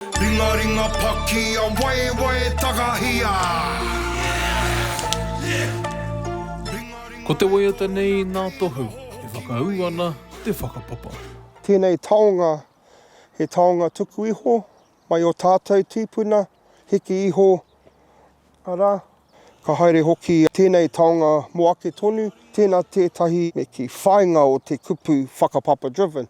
Ringaringa paki a waewae takahia Ko te waiata nei nā Tohu e whakaū ana te whakapapa. Tēnei taonga, he taonga tuku iho mai o tātou tīpuna, hiki iho, arā, ka haere hoki tēnei taonga mō ake tonu, tēnā tētahi me kī, whāinga o te kupu whakapapa-driven.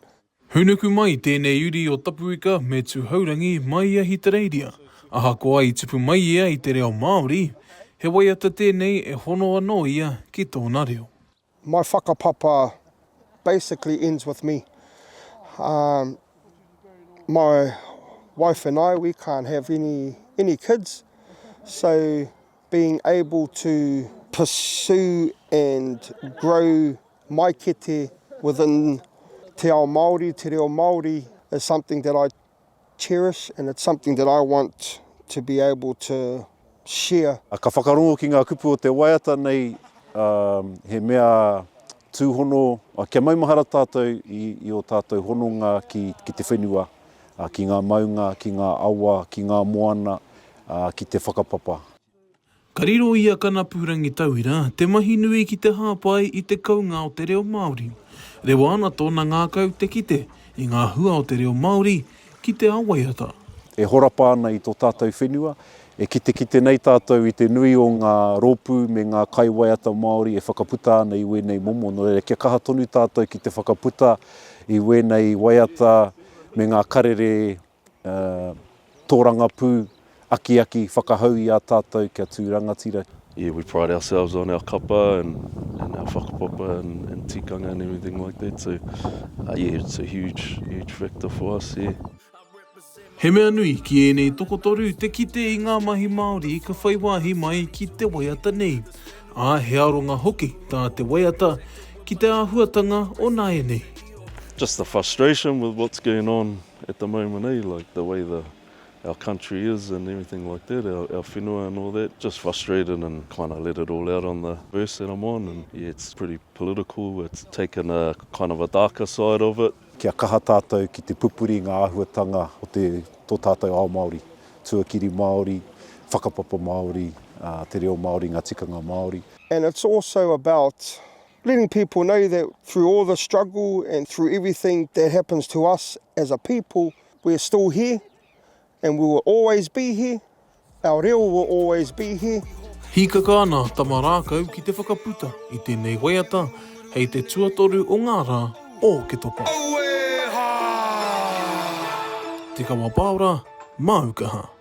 Hūnuku mai tēnei uri o Tapuika me Tūhourangi mai i Ahitereiria. Ahakoa i tupu mai ia i te reo Māori, he waiata tēnei e hono anō ia ki tōna reo. My whakapapa basically ends with me. Um, my wife and I, we can't have any, any kids, so being able to pursue and grow my kete within te ao Māori, te reo Māori is something that I cherish and it's something that I want to be able to share. Ka whakarongo ki ngā kupu o te waiata nei, he mea Tūhono, Kia maumahara tātou i ō tātou hononga ki te whenua, ki ngā maunga, ki ngā awa, ki ngā moana, ki te whakapapa. Ka riro i a Kanapu Rangitauira te mahi nui ki te hāpai i te kounga o te reo Māori. Rewa ana tōna ngākau te kite i ngā hua o te reo Māori, ki te ao waiata. E horapa ana i tō tātou whenua, e kitekite nei tātou i te nui o ngā rōpū me ngā kaiwaiata Māori e whakaputa ana i wēnei momo, nō reira kia kaha tonu tātou ki te whakaputa i wēnei waiata me ngā karere tōrangapū akiaki whakahau i a tātou kia tū rangatira. Yeah we pride ourselves on our kapa and and our whakapapa and and tikanga and everything like that so yeah it's a huge huge factor for us yeah. He mea nui ki ēnei tokotoru te kite i ngā mahi Māori ka whai wāhi mai ki te waiata nei, ā, he aronga hoki tā te waiata ki te āhuatanga o nāianei. Just the frustration with what's going on at the moment, eh, like the way the. our country is and everything like that, our our whenua and all that, just frustrated and kind of let it all out on the verse that I'm on and yeah it's pretty political, it's taken a kind of a darker side of it. Kia kaha tātou ki te pupuri ngā āhuatanga o te, tō tātou ao Māori, tuakiri Māori, whakapapa Māori, te reo Māori, ngā tikanga Māori. And it's also about letting people know that through all the struggle and through everything that happens to us as a people, We're still here and we will always be here, our reo will always be here. Hīkaka ana tama rākau ki te whakaputa i tēnei waiata hei te tuatoru o ngā rā o Oketopa. Te Kawa Paora, Māu Kaha.